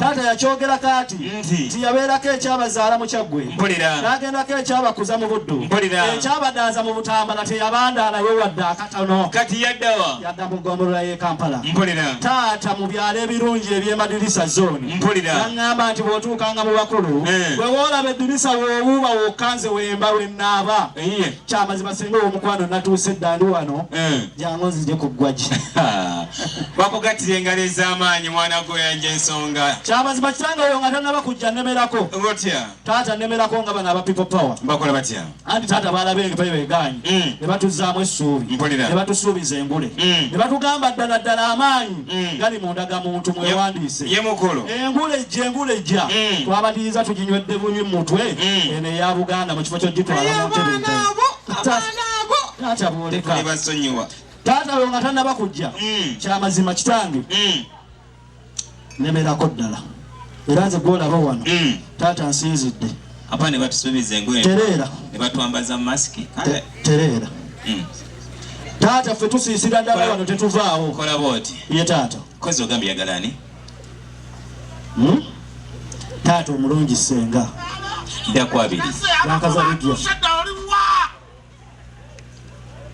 Taata yakyogera kaati nti yabeerako ekyabazaala mu Kyaggwe n'agendako ekyabakuza mu Buddu ekyabadaaza mu Butambala teyabandaala we wadde akatono kati yaddawa yadda mu ggombolola y'e Kampala taata mu byalo ebirungi eby'emadirisa zooni yaŋŋamba nti bw'otuukanga mu bakulu eh. bwe woolaba eddirisa w'owuuba wokka nze wemba we nnaaba kyamazima singa owomukwano natuuse dda ndi wano eh. jangu nzije ku ggwagi bakugattira engalo ez'amaanyi mwana gwoyanja ensonga kyamazima kitanga oyo nga tanaba kujja nemerako otya taata nemerako nga bano aba people power bakola batya anti taata baalaba envayo egaanyi mm. ne batuzzaamu essuubi ne batusuubiza engule mm. ne batugamba ddala ddala amaanyi mm. gali mu ndagamuntu mwewandiise engulejja engulejja mm. twabadiriza tuginywedde bunywi mu mutwe mm. eno eya buganda mu kifo kyogitwala mu ntebe taata bwoleka taata we nga tanaba kujja mm. kyamazima kitange mm. nemerako ddala era nze gwolaba wano mm. taata nsinzidde Apa ne batusubiza engoye. Terera. Ne batwambaza mask. Kale. Terera. Mm. Taata ffe tusiisira ddala wano tetuvaawo. Kola bwoti. Ye taata. Kozi ogambye yagala ani? Hmm? Taata omulungi senga. Dda kwabiri. Nakaza bigya.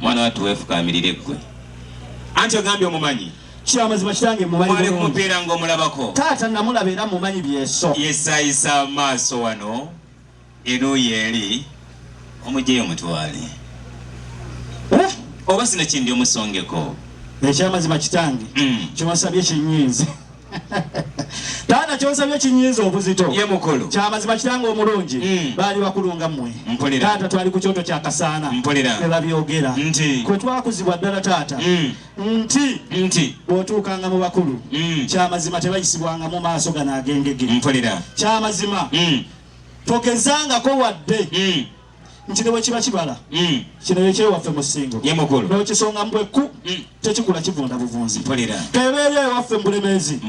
mwana watu wefukamirire gwe anti ogambye omumanyi kyamazima kitange mumanyi kumupeera ngaomulabako taata namulaba era mumanyi byeso yesayisa amaaso wano eruuyi eri omujeyo mutwale eh? oba sino kindi omusongeko ekyamazima kitange mm. kyewasabye kyenyinzi taata kyonsabye kinyinza obuzito ye mukulu kyamazima kitanga omulungi mm. baali bakulunga mmwe mpulira taata twali ku kyoto kya kasaana mpulira ne babyogera nti kwe twakuzibwa ddala taata mm. nti nti bw'otuukanga mu bakulu mm. kyamazima tebayisibwanga mu maaso gano agengege mpulira kyamazima mm. togezangako wadde mm. nti ne bwe kiba kibala mm. kino ye kyewaffe mu ssingo n'okisonga mu bwekku mm. tekikula kivunda buvunzi kebeera ewaffe mu bulemeezi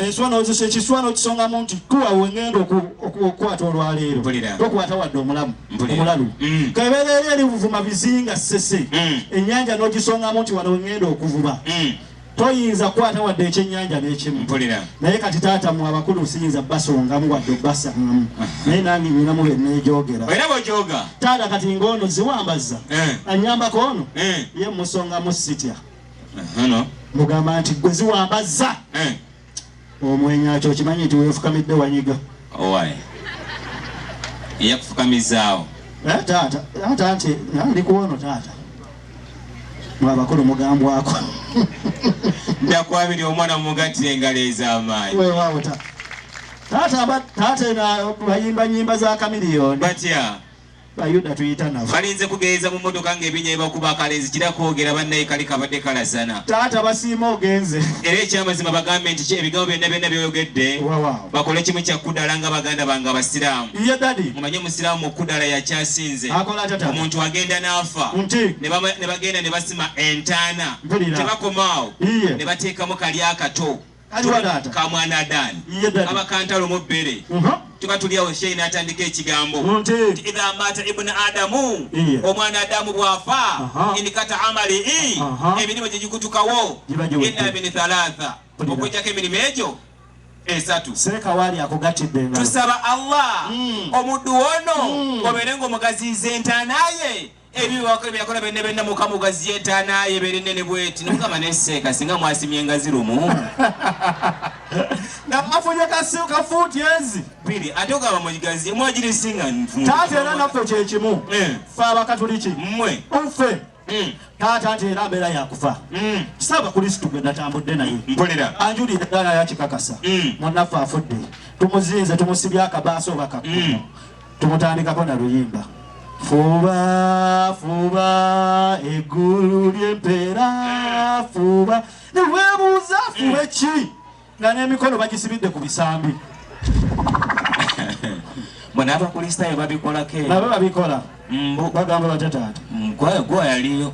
enswa n'ozisa ekiswa n'okisonga mu nti tuwa we ngenda okukwata olwaleero tokwata wadde omulamu omulalu mm. kebeera eri eri buvuma bizinga ssese ennyanja n'ogisongamu nti wano we ngenda okuvuba toyinza kukwata wadde ekyennyanja n'ekimu naye kati taata mu abakulu siyinza basongamu wadde obasangamu naye nange nyinamu benejoogera taata kati ng'ono ziwambazza eh. anyambako ono eh. ye musongamu sitya mugamba nti gwe ziwambazza eh. Omwenya kyo okimanyi nti wefukamidde wanyiga. Owaye. Eyakufukamizaawo. Eh taata, taata nti ndi kuwono taata. Mwa bakulu mugambwako. Ndakwabiri omwana mugatire engalo ez'amaanyi. Weewaawo taata. Taata taata eno bayimba nyimba za kamiliyoni. Batya. Bayuda tuyita nabo. Balinze kugeeza mu mmotoka ng'ebinya ebakuba akalenzi kira kwogera bannaye kali kabadde kalasana. Taata basiima ogenze. Era ekyamazima bagambe nti ebigambo byonna byonna byoyogedde bakole kimu kya kudala nga baganda bange Abasiraamu. Ye dadi. Mumanye Omusiraamu okudala yakyasinze. Akola atya taata? Omuntu agenda n'afa. Nti. Ne bagenda ne basima entaana. Mpulira. Tebakomaawo. Iye. Ne bateekamu kali akato. Kaliwa taata. Kamwana Adani. Ye daddy. Abakantalo mu bere. Mhm. Tuba tuli awo shehe n'atandika ekigambo. Nti. Nti idha mata ibn Adamu. Iye. Omwana Adamu bw'afa. Aha. Inikata amali i. Aha. Emirimu gye gikutukawo. Giba giwedde. Illa min thalatha. Kulira. Okujjako emirimu egyo esatu. Sereka waali akugattidde engalo. Tusaba Allah Mm. omuddu ono Mm. obeere ng'omugaziyiza entaana ye ebiwako ebyakola benne benna mukama ugaziye etaanaye ebeere nnene bweti nomukama neseeka singa mwasimye engazi lumu nafunye kasimu ka fuuti ezi biri ate ogamba mugigazi mwagiri singa nfu taata era naffe kyekimu eh. fe abakatuliki mmwe nfe hmm. taata nti era mbeera yakufa hmm. kisaba kulisitu gwe natambudde naye mpulira anjulira era yakikakasa hmm. munaffe afudde tumuzinze tumusibye akabaaso obakakuma tumutandikako na luyimba fuba fuba eggulu ly'empeera fuba newebuuza fuba ki nga n'emikono bagisibidde ku bisambi bona abakulisitaayo babikolako nabo babikola mbu bagamba batya taata gwa yaliyo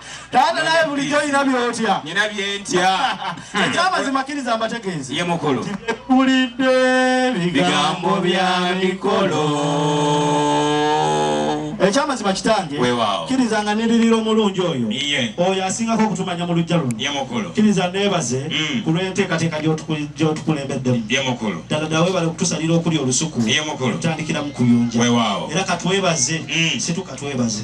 Taata naye bulijjo olina byotya? Nina byentya. Ekyamazima kiriza mbategeeze. Ye mukulu. Tibikulidde bigambo bya mikolo. Ekyamazima kitange. Weewaawo. Kiriza nga niririra omulungi oyo. Iye. Oyo asingako okutumanya mu lujja luno. Ye mukulu. Kiriza neebaze mm. ku lw'enteekateeka gy'otukulembeddemu. Ye mukulu. Ddala ddala weebale okutusalira okuli olusuku. Ye mukulu. Tutandikira mu kuyunja. Weewaawo. Era katwebaze. Mm. Situka twebaze.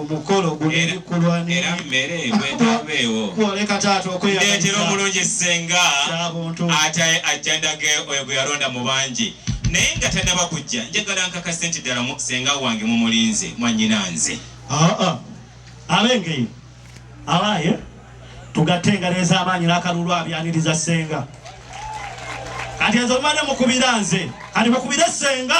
omukolo gulekulwa era mmere bwetabeewo kwoleka taata okweyaletera omulungi ssenga ate ajja ndage oyo gwe yalonda mu bangi naye nga tannaba kujja njagala nkakase nti ddala ssenga wange mumulinze mwanyina nze ah, ah. abengeyo abaye tugatte engalo ez'amaanyi n'akalulu abyaniriza ssenga kati enze omumane mukubira nze kati mukubire ssenga